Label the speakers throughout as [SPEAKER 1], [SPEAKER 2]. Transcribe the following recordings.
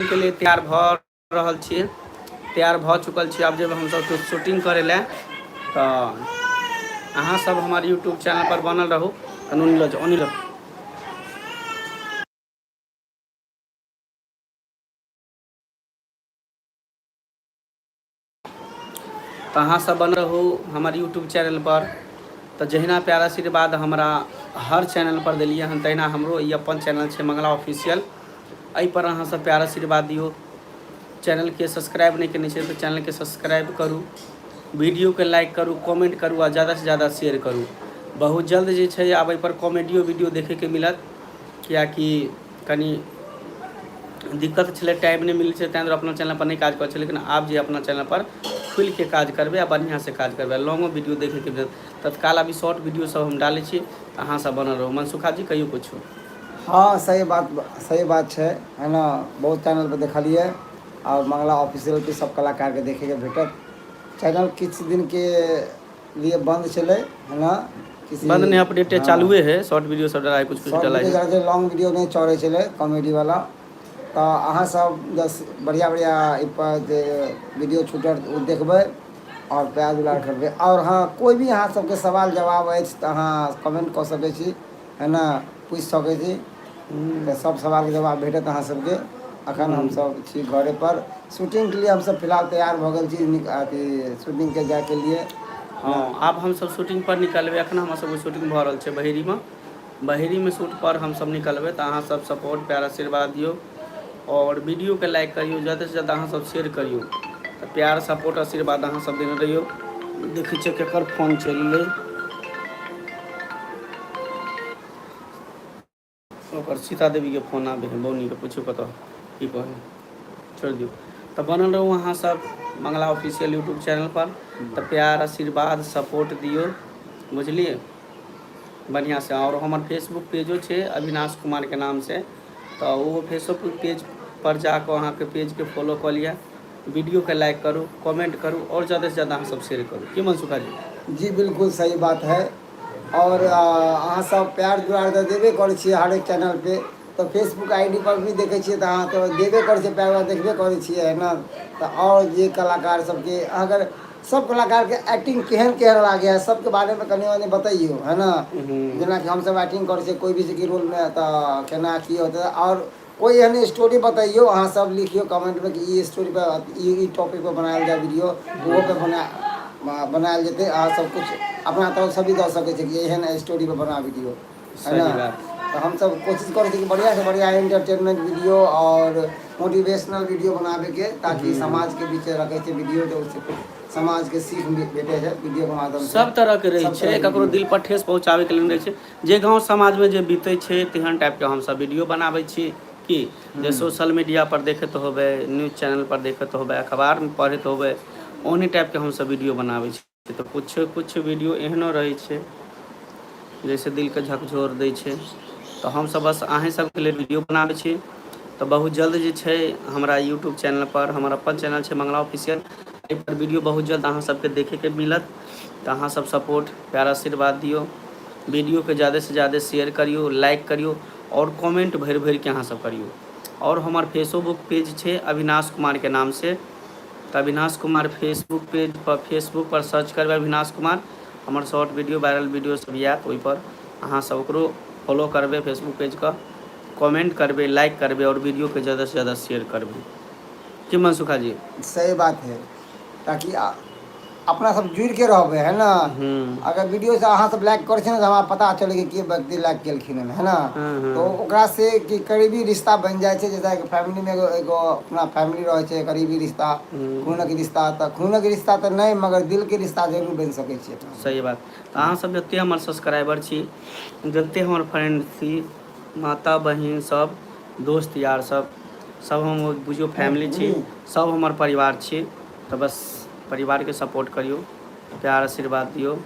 [SPEAKER 1] के लिए तैयार भऽ रहल छियै तैयार भऽ चुकल छी आब जेबै हमसभ शूटिंग करै लए तऽ अहाँसभ हमर यूट्यूब चैनलपर बनल रहू कनू लऽ जाउ ओन्नी लऽ तऽ अहाँसभ बन रहू हमर यूट्यूब चैनलपर तऽ जहिना प्यारा आशीर्वाद हमरा हर चैनलपर देलियै हन तहिना हमरो ई अपन चैनल छै मंगला ऑफिशियल एहिपर अहाँसभ प्यारा आशीर्वाद दियौ चैनलके सब्सक्राइब नहि कयने छै तऽ चैनलके सब्सक्राइब करू वीडियोके लाइक करू कमेंट करू आ ज़्यादासँ ज़्यादा शेयर करू बहुत जल्द जे छै आब एहिपर कॉमेडियो वीडियो देखैके मिलत किएकि कनि दिक्कत छलै टाइम नहि मिलै छै ताहि दुआरे अपना चैनलपर नहि काज करै छै लेकिन आब जे अपना चैनलपर खुलिके काज करबै आ बढ़िआँसँ काज करबै लॉन्गो वीडियो देखैके भेल तत्काल अभी शॉर्ट वीडियो सब हम डालै छी तऽ अहाँ सब बनल रहू मनसुखा जी कहियो कुछो हँ सही
[SPEAKER 2] बात सही बात छै है ने बहुत चैनलपर देखलियै आओर मंगला ऑफिशियलके सब कलाकारके देखैके भेटत चैनल किछु दिनके लिए बंद छलै हना किसी बंद नहि अपडेट
[SPEAKER 1] हाँ, चालुए है शॉर्ट वीडियो सब डलाइ कुछ कुछ डलाइ है जे लॉन्ग वीडियो नहि चढ़ै
[SPEAKER 2] छलै कॉमेडी वाला तऽ अहाँ सब जस बढ़िया बढ़िया एहि पर जे वीडियो छूटल ओ देखबै आओर प्यार दुलार करबै आओर हाँ कोई भी अहाँ सबके सवाल जवाब अछि तऽ अहाँ कमेंट कऽ सकै छी एना पूछि सकै छी तऽ सब सवाल के जवाब भेटत अहाँ सबके अखन हूँ हमसब छी घरे पर शूटिंग के लिए हमसब फिलहाल तैयार भऽ गेल छी नीक अथी शूटिंग के जाय के लिए हँ जेना आब
[SPEAKER 1] हमसब शूटिंग पर निकलबै अखन हमर सबके शूटिंग भऽ रहल छै बहेरी मऽ बहेरी मे शूट पर हमसब निकलबै तऽ अहाँ सब सपोर्ट प्यार आशीर्वाद दियौ आओर वीडियोके लाइक करियौ जा्यदासँ जा्यदा अहाँसभ शेयर करियौ तऽ प्यार सपोर्ट आशीर्वाद अहाँसभ देने रहियौ देखै छियै केकर फोन चलि एलै ओकर सीता देवीके फोन आबै है बौनीके पूछू कतऽ की कहै छोड़ि दियौ तऽ बनल रहू अहाँसभ मंगला ऑफिशियल यूट्यूब चैनलपर तऽ प्यार आशीर्वाद सपोर्ट दियौ बुझलियै बढ़िआँसँ आओर हमर फेसबुक पेजो छै अविनाश कुमारके नामसँ तऽ ओहो फेसोक पेज पर जा कऽ अहाँके पेज के फॉलो कऽ लिअ वीडियो के लाइक करू कमेंट करू आओर जादा से जादा अहाँ सब शेयर करू की मनसुखा जी जी बिल्कुल सही
[SPEAKER 2] बात है और आ, अहाँ सब प्यार दुलार तऽ देबे करै छियै हरेक चैनल पे तऽ फेसबुक आई डी पर भी देखै छियै तऽ अहाँ तऽ देबे करै छियै प्यार दुलार देखबे करै छियै है ने तऽ आओर जे कलाकार सबके अगर सब कलाकार के एक्टिंग केहन केहन लागैया सब के बारे मे कनि मनि बतैयो है न जेना कि हम सब एक्टिंग करै छियै कोइ भी जे कि रोल मे त केना की होतै आओर कोइ एहन स्टोरी बतैयो अहाँ सब लिखियौ कमेंट मे कि ई स्टोरी पर ई ई टॉपिक पर बनायल जाय वीडियो ओहो पर बना बनायल जेतै अहाँ सब कुछ अपना तरफ सँ भी दऽ सकै छियै कि एहन स्टोरी पर बना वीडियो है न सही बात तऽ हमसभ कोशिश करै छी कि बढ़िआँसँ बढ़िआँ इन्टरटेनमेंट वीडियो आओर मोटिवेशनल वीडियो बनाबेके ताकि हूँ समाज के बीच रखे छै वीडियो जो समाज के सीख मिल भेटे छै वीडियो के माध्यम से सब तरह के रहे सब तरह छै के
[SPEAKER 1] ककरो वीडियो दिल पर ठेस पहुँचाबै के लेल रहे छै जे गाँव समाज मे जे बीते छै तेहन टाइप के हमसब वीडियो बनाबै छी की जे हूँ सोशल मीडिया पर देखैत होबै न्यूज चैनल पर देखैत होबै अखबार मे पढ़ैत होबै ओहने टाइप के हमसब वीडियो बनाबै छी तऽ किछु किछु वीडियो एहनो रहै छै जैसे दिल के झकझोर दै छै तऽ हमसभ बस अहीँ सभके लेल वीडियो बनाबै छी तऽ बहुत जल्द जे छै हमरा यूट्यूब चैनल पर हमर अपन चैनल छै मंगला ऑफिसियल एहिपर वीडियो बहुत जल्द अहाँ सभके देखैके मिलत तऽ अहाँ सभ सपोर्ट प्यारा आशीर्वाद दियौ वीडियो के जादे से जादे शेयर करियौ लाइक करियौ आओर कमेन्ट भरि भरिके अहाँ सभ करियौ आओर हमर फेसोबुक पेज छै अविनाश कुमार के नाम से तऽ अविनाश कुमार फेसबुक पेज पर फेसबुक पर सर्च करबै अविनाश कुमार हमर शॉर्ट वीडियो वायरल वीडियो सब आयत ओहिपर अहाँ सब ओकरो फॉलो करबै फेसबुक पेजके कमेंट करबै लाइक करबै आओर वीडियोके ज़्यादासँ ज़्यादा शेयर करबै की मनसुखा जी सही बात है
[SPEAKER 2] ताकि आ, अपना सब जुड़ के रहबे है ने हूँ अगर वीडियो से अहाँ सब लाइक करे छै ने त हमरा पता चल के व्यक्ति लाइक केलखिन ह है ने हूँ तो हूँ ओकरा से क करीबी रिश्ता बनि जाइ छै जैसे फैमिली मे एगो एगो अपना फैमिली रहै छै करीबी रिश्ता हूँ खूनक रिश्ता तऽ खूनक रिश्ता तऽ नहि मगर दिल के रिश्ता जरूर बनि सकै छै सही बात तऽ
[SPEAKER 1] अहाँसभ जतेक हमर सब्सक्राइबर छी जतेक हमर फ्रेन्ड छी माता बहिन सब दोस्त यार सब सब हम बुझियौ फैमिली छी सब हमर परिवार छी तऽ बस परिवारके सपोर्ट करियौ प्यार आशीर्वाद दियौ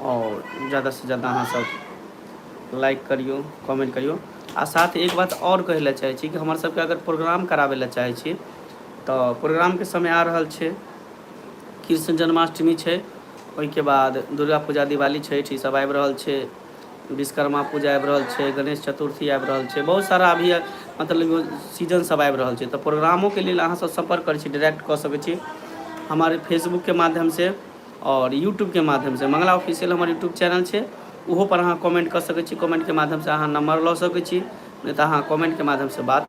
[SPEAKER 1] आओर ज्यादासँ ज्यादा अहाँसभ लाइक करियौ कमेंट करियौ आ साथ एक बात आओर कहै लए चाहै छी कि हमर सभके अगर प्रोग्राम कराबै लए चाहै छी तऽ प्रोग्रामके समय आ रहल छै कृष्ण जन्माष्टमी छै ओहिके बाद दुर्गा पूजा दिवाली छठि ईसभ आबि रहल छै विश्वकर्मा पूजा आबि रहल छै गणेश चतुर्थी आबि रहल छै बहुत सारा अभी मतलब सीजन सब आबि रहल छै तऽ प्रोग्रामोके लेल अहाँ सब सम्पर्क करै छी डायरेक्ट कऽ सकै छी हमारे फेसबुकके माध्यमसँ आओर यूट्यूबके माध्यमसँ मंगला ऑफिशियल हमर यूट्यूब चैनल छै ओहोपर अहाँ कमेंट कऽ सकै छी कमेंटके माध्यमसँ अहाँ नम्बर लऽ सकै छी नहि तऽ अहाँ कमेंटके माध्यमसँ बात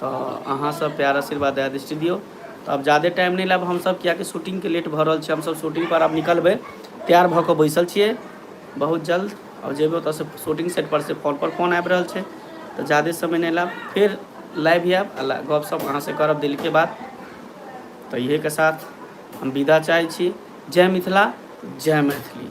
[SPEAKER 1] तऽ अहाँ सब प्यार आशीर्वाद दया दृष्टि दियौ तऽ अब जादे टाइम नहि लेब हमसब कियाकि शूटिंग के लेट भऽ रहल छै हमसब शूटिंग पर आब निकलबै तैयार भऽ कऽ बैसल छियै बहुत जल्द आओर जेबै ओतऽसँ शूटिंग सेट पर से फोन पर फोन आबि रहल छै तऽ जादे समय नहि लेब फेर लाइव आयब आ ला- गपशप अहाँ से करब दिल के बात तऽ इहे के साथ हम विदा चाहै छी जय मिथिला जय मैथिली